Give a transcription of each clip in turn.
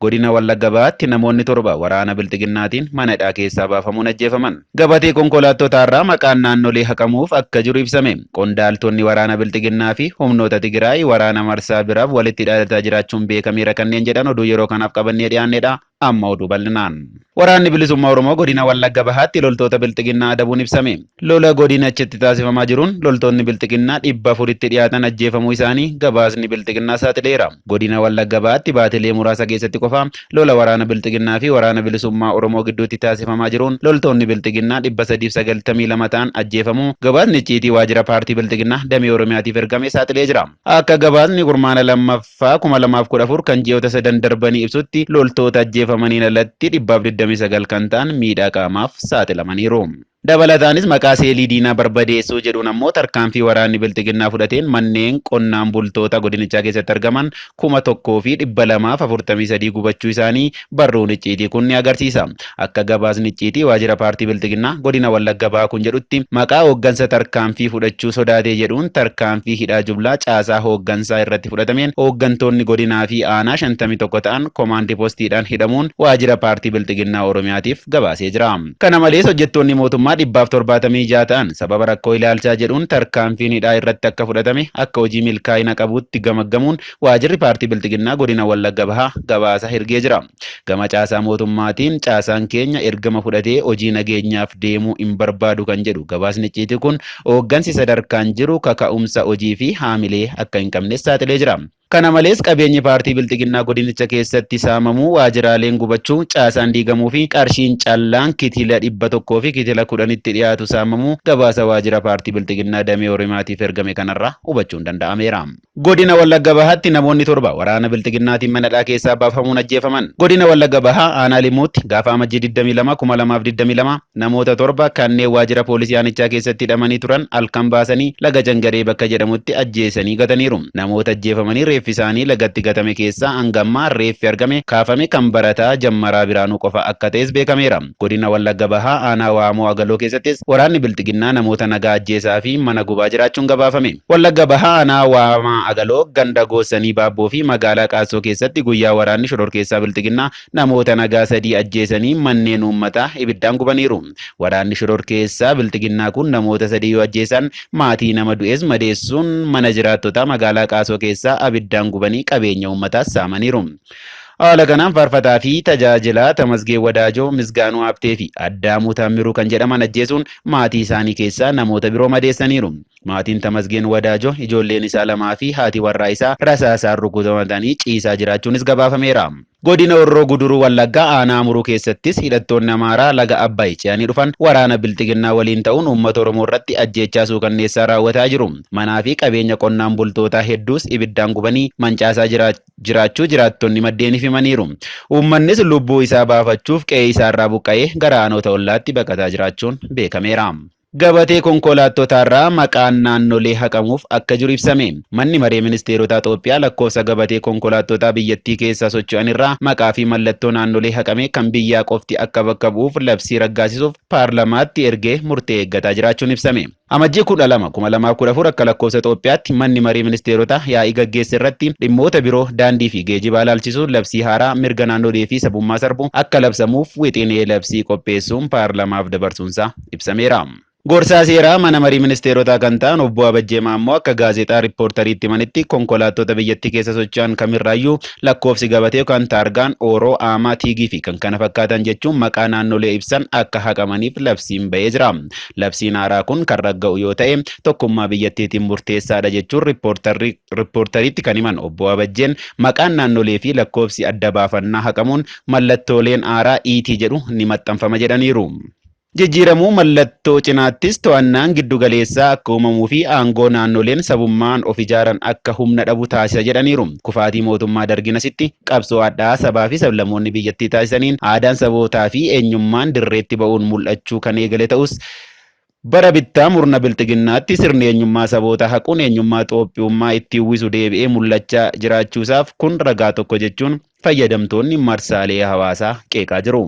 Godina Wallagga Bahaatti namoonni torba waraana Bilxiginnaatiin mana hidhaa keessaa baafamuun ajjeefaman. Gabatee konkolaattotaarraa maqaan naannolee haqamuuf akka jiru ibsame. Qondaaltonni waraana Bilxiginnaa fi humnoota Tigiraay waraana marsaa biraaf walitti hidhaadataa jiraachuun beekameera kanneen jedhan oduu yeroo kanaaf qabannee dhiyaannedha. Amma oduu bal'inaan. Waraanni Bilisummaa Oromoo Godina Wallagga Bahaatti loltoota Bilxiginnaa adabuun ibsame. Lola godinachitti taasifamaa jiruun loltoonni Bilxiginnaa 400tti dhiyaatan ajjeefamuu isaanii gabaasni Bilxiginnaa saaxileera. Godina Wallagga Bahaatti baatilee muraasa keessatti qofa lola waraana Bilxiginnaa fi Waraana Bilisummaa Oromoo gidduutti taasifamaa jiruun loltoonni Bilxiginnaa 392 ta'an ajjeefamuu gabaasni icciitii waajjira paartii Bilxiginnaa damee Oromiyaatiif ergame saaxilee jira. Akka gabaasni kurmaana 2f. ffaa 2014 kan ji'oota sadan darbanii ibsutti loltoota ajjeefamaniin alatti 129 kan ta'an miidhaa qaamaaf saaxilamaniiru. Dabalataanis maqaa seelii diinaa barbadeessuu jedhuun ammoo tarkaanfii waraanni bilxiginnaa fudhateen manneen qonnaan bultoota godinichaa keessatti argaman 1243 gubachuu isaanii barruun icciitii kun ni agarsiisa. Akka gabaasni icciitii waajjira paartii Bilxiginnaa godina Wallagga Bahaa kun jedhutti, maqaa hooggansa tarkaanfii fudhachuu sodaatee jedhuun tarkaanfii hidhaa jublaa caasaa hooggansaa irratti fudhatameen hooggantoonni godinaa fi aanaa 51 ta'an komaandi postiidhaan hidhamuun waajjira paartii Bilxiginnaa Oromiyaatiif gabaasee jira. Kana malees hojjettoonni mootummaa 176 ta'an sababa rakkoo ilaalchaa jedhuun tarkaanfiin hidhaa irratti akka fudhatame akka hojii milkaa'ina qabuutti gamaggamuun waajirri paartii Bilxiginnaa godina Wallagga Bahaa gabaasa ergee jira. Gama caasaa mootummaatiin caasaan keenya ergama fudhatee hojii nageenyaaf deemuu hin barbaadu kan jedhu gabaasni icciitii kun hooggansi sadarkaan jiru kaka'umsa hojii fi haamilee akka hin qabnes saaxilee jira. Kana malees qabeenyi paartii Bilxiginnaa godinicha keessatti saamamuu, waajiraaleen gubachuu, caasaan diigamuu fi qarshiin callaan kitila 100 fi kitila 10tti dhiyaatu saamamuu gabaasa waajira paartii Bilxiginnaa damee Oromiyaatiif ergame kanarraa hubachuun danda'ameera. Godina Wallagga Bahaatti namoonni torba waraana Bilxiginnaatiin mana hidhaa keessaa baafamuun ajjeefaman. Godina Wallagga Bahaa aanaa Limuutti gaafa Amajjii 22, 2022 namoota torba kanneen waajjira poolisii aanichaa keessatti hidhamanii turan halkan baasanii laga Jangaree bakka jedhamutti ajjeesanii gataniiru. Namoota ajjeefamanii reeffi isaanii lagatti gatame keessaa hanga ammaa reeffi argame kaafame kan barataa Jammaraa Biraanuu qofa akka ta'es beekameera. Godina Wallagga Bahaa aanaa Waamoo Agaloo keessattis waraanni bilxiginnaa namoota nagaa ajjeesaa fi mana gubaa jiraachuun gabaafame. Wallagga Bahaa aanaa Waamaa Agaloo ganda Goossanii Baabboo fi magaalaa Qaassoo keessatti guyyaa waraanni shororkeessaa bilxiginnaa namoota nagaa sadii ajjeesanii manneen uummataa ibiddaan gubaniiru. Waraanni shororkeessaa bilxiginnaa kun namoota sadii yoo ajjeesaan maatii nama du'ees madeessuun mana jiraattotaa magaalaa Qaasoo keessaa abiddaan gubanii qabeenya uummataas saamaniiru. Haala kanaan faarfataa fi tajaajilaa Tamasgeen Wadaajoo, Misgaanuu Habtee fi Addaamuu Taammiruu kan jedhaman ajjeesuun maatii isaanii keessaa namoota biroo madeessaniiru. Maatiin Tamasgeen Wadaajoo ijoolleen isaa lamaa fi haati warraa isaa rasaasaan rukutamanii ciisaa jiraachuunis gabaafameera. Godina Horroo Guduruu Wallaggaa aanaa Amuruu keessattis hidhattoonni Amaaraa laga Abbaay ce'anii dhufan waraana Bilxiginnaa waliin ta'uun uummata Oromoo irratti ajjeechaa suukanneessaa raawwataa jiru. Manaa fi qabeenya qonnaan bultootaa hedduus ibiddaan gubanii mancaasaa jiraachuu. jiraachuu jiraattonni maddeeniif himaniiru. Uummannis lubbuu isaa baafachuuf qe'ee isaarraa buqqa'ee gara aanoota ollaatti baqataa jiraachuun beekameera. Gabatee konkoolaattotaarraa maqaan naannolee haqamuuf akka jiru ibsame. Manni Maree Ministeerotaa Xoophiyaa lakkoofsa gabatee konkolaattotaa biyyattii keessa socho'anirraa maqaa fi mallattoo naannolee haqamee kan biyyaa qofti akka bakka bu'uuf labsii raggaasisuuf paarlamaatti ergee murtee eeggataa jiraachuun ibsame. Amajjii 12, 2014 akka lakkoofsa Itoophiyaatti Manni Marii Ministeerotaa yaa'ii gaggeesse irratti dhimmoota biroo daandii fi geejibaa ilaalchisuun labsii haaraa mirga naannolee fi sabummaa sarbu akka labsamuuf wixinee labsii qopheessuun paarlamaaf dabarsuunsaa ibsameera. Gorsaa seeraa Mana Marii Ministeerotaa kan ta'an Obbo Abajjee Maammoo akka Gaazexaa Rippoortariitti himanitti, konkolaattota biyyattii keessa socho'an kamirraayyuu lakkoofsi gabatee yookaan taargaan, Oro, Ama, Tig fi kkf jechuun maqaa naannolee ibsan akka haqamaniif labsiin ba'ee jira. Labsiin haaraa kun kan ragga'u yoo ta'e tokkummaa biyyattiitiin murteessaadha jechuun rippoortarri rippoortariitti kan himan obbo Abajjeen maqaan naannolee fi lakkoofsi adda baafannaa haqamuun mallattooleen haaraa iitii jedhu ni maxxanfama jedhaniiru. Jijjiiramuu mallattoo cinaattis to'annaan giddu galeessaa akka uumamuu fi aangoo naannoleen sabummaan of ijaaran akka humna dhabu taasisa jedhaniiru. Kufaatii mootummaa Dargiin asitti qabsoo hadhaa'aa sabaafi sablammoonni biyyattii taasisaniin aadaan sabootaafi eenyummaan dirreetti ba'uun mul'achuu kan eegale ta'us, bara bittaa murna Bilxiginnaatti sirni eenyummaa sabootaa haquun eenyummaa Xoophiyummaa itti uwwisu deebi'ee mul'achaa jiraachuusaaf kun ragaa tokko jechuun fayyadamtoonni marsaalee hawaasaa qeeqaa jiru.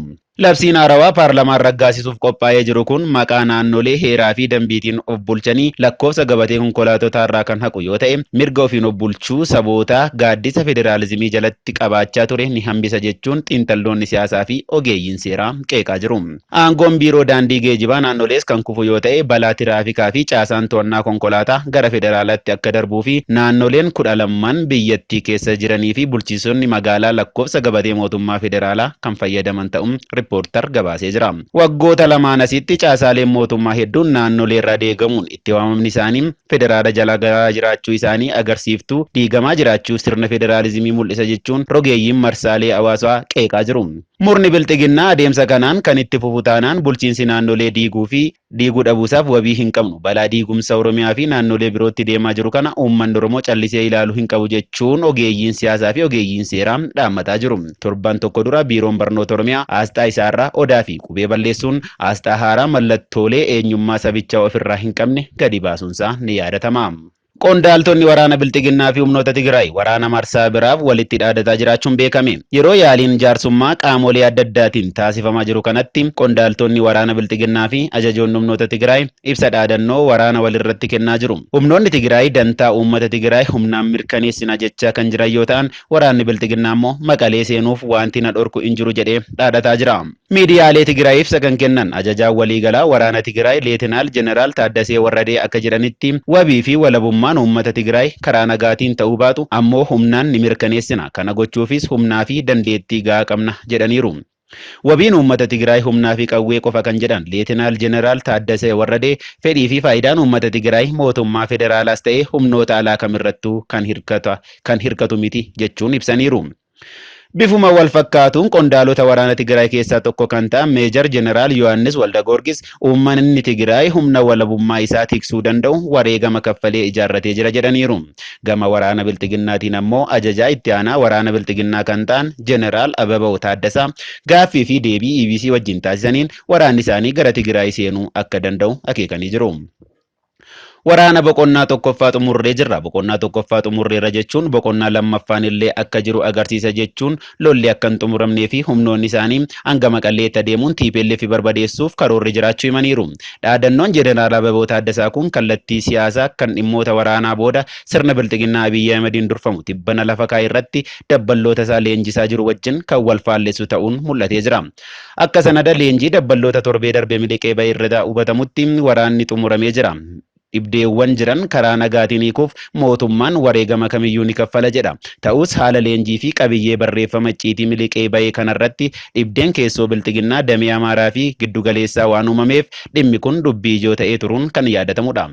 Labsiin haarawaa paarlamaan raggaasisuuf qophaa'ee jiru kun maqaa naannolee heeraa fi dambiitiin of bulchanii lakkoofsa gabatee konkolaatotaarraa kan haqu yoo ta'e, mirga ofiin of bulchuu sabootaa gaaddisa federaalizimii jalatti qabaachaa ture ni hambisa jechuun xiinxalloonni siyaasaa fi ogeeyyiin seeraa qeeqaa jiru. Aangoon Biiroo Daandii Geejibaa naannolees kan kufu yoo ta'e, balaa tiraafikaa fi caasaan to'annaa konkolaataa gara federaalaatti akka darbuu fi naannoleen kudha lamman biyyattii keessa jiranii fi bulchiinsonni magaalaa lakkoofsa gabatee mootummaa federaalaa kan fayyadaman ta'u Rippoortar gabaasee jira. Waggoota lamaan asitti caasaaleen mootummaa hedduun naannoleerraa deegamuun itti waamamni isaanii federaala jala galaa jiraachuu isaanii agarsiiftu diigamaa jiraachuu sirna federaalizimii mul'isa jechuun rogeeyyiin marsaalee hawaasaa qeeqaa jiru. Murni Bilxiginnaa adeemsa kanaan kan itti fufu taanaan bulchiinsi naannolee diiguu fi Diiguu dhabuusaaf wabii hin qabnu. Balaa diigumsa Oromiyaa fi naannolee birootti deemaa jiru kana uummanni Oromoo callisee ilaalu hin qabu jechuun ogeeyyiin siyaasaa fi ogeeyyiin seeraa dhaammataa jiru. Torban tokko dura Biiroon Barnoota Oromiyaa aasxaa isaarraa Odaa fi qubee balleessuun aasxaa haaraa mallattoolee eenyummaa sabichaa ofirraa hin qabne gadi baasuunsaa ni yaadatama. Qondaaltonni waraana Bilxiginnaa fi humnoota Tigraay waraana marsaa biraaf walitti dhaadataa jiraachuun beekame. Yeroo yaaliin jaarsummaa qaamolee adda addaatiin taasifamaa jiru kanatti qondaaltonni waraana Bilxiginnaa fi ajajoonni humnoota Tigraay ibsa dhaadannoo waraana walirratti kennaa jiru. Humnoonni Tigraay dantaa uummata Tigraay humnaan mirkaneessina jechaa kan jiran yoo ta'an, waraanni Bilxiginnaa immoo Maqalee seenuuf waanti na dhorku hin jiru jedhee dhaadataa jira. Miidiyaalee Tigiraayiif ibsa kan kennan Ajajaan Waliigalaa Waraana Tigiraay Leetinaal Jeneraal Taaddasee Warradee akka jedhanitti, wabii fi walabummaan uummata Tigiraay karaa nagaatiin ta'uu baatu ammoo humnaan ni mirkaneessina. Kana gochuufis humnaa fi dandeettii gahaa qabna, jedhaniiru. Wabiin uummata Tigiraay humnaa fi qawwee qofa kan jedhan Leetinaal Jeneraal Taaddasee Warradee, fedhii fi faayidaan uummata Tigiraay mootummaa federaalaas ta'ee humnoota alaa kamirrattuu kan hirkata kan hirkatu miti jechuun ibsaniiru. Bifuma wal fakkaatuun qondaalota waraana Tigraay keessaa tokko kan ta'an Meejar Jeneraal Yohaannis Waldagoorgis uummanni Tigraay humna walabummaa isaa tiksuu danda'u wareegama kaffalee ijaarratee jira jedhaniiru. Gama waraana Bilxiginnaatiin ammoo ajajaa itti aanaa waraana Bilxiginnaa kan ta'an Jeneraal Abebaw Taaddasaa gaaffii fi deebii EBC wajjin taasisaniin waraanni isaanii gara Tigraay seenuu akka danda'u akeekanii jiru. Waraana boqonnaa tokkoffaa xumurree jirra. Boqonnaa tokkoffaa xumurreerra jechuun boqonnaa lammaffaan illee akka jiru agarsiisa jechuun lolli akka hin xumuramnee fi humnoonni isaanii hanga Maqalleetti adeemuun tplf barbadeessuuf karoorri jiraachuu himaniiru. Dhaadannoon Jeneraal Ababoo Taaddasaa kun kallattii siyaasaa kan dhimmoota waraanaa booda sirna bilxiginnaa Abiy Ahimediin durfamu tibbana lafa kaa'e irratti dabballoota isaa leenjisaa jiru wajjin kan wal faallessu ta'uun mul'atee jira. Akka sanada leenjii dabballoota torbee darbe miliqee bahe irraa hubatamutti waraanni xumuramee jira. Dhibdeewwan jiran karaa nagaatiin hiikuuf mootummaan wareegama kamiyyuu ni kaffala jedha. Ta'us haala leenjii fi qabiyyee barreeffama icciitii miliqee bahe kanarratti dhibdeen keessoo Bilxiginnaa damee Amaaraa fi Giddugaleessaa waan uumameef dhimmi kun dubbii ijoo ta'ee turuun kan yaadatamudha.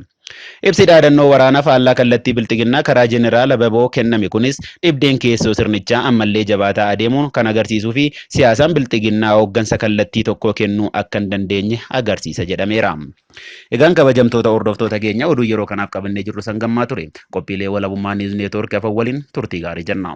Ibsi dhaadannoo waraana faallaa kallattii Bilxiginnaa karaa Jeneraal Ababoo kenname kunis dhibdeen keessoo sirnichaa ammallee jabaataa adeemuun kan agarsiisuufi siyaasaan Bilxiginnaa hooggansa kallattii tokkoo kennuu akka hin dandeenye agarsiisa jedhameera. Egaan kabajamtoota hordoftoota keenya oduun yeroo kanaaf qabannee jirrus hangammaa ture. Qophiilee Walabummaa News Network hafan waliin turtii gaarii jenna.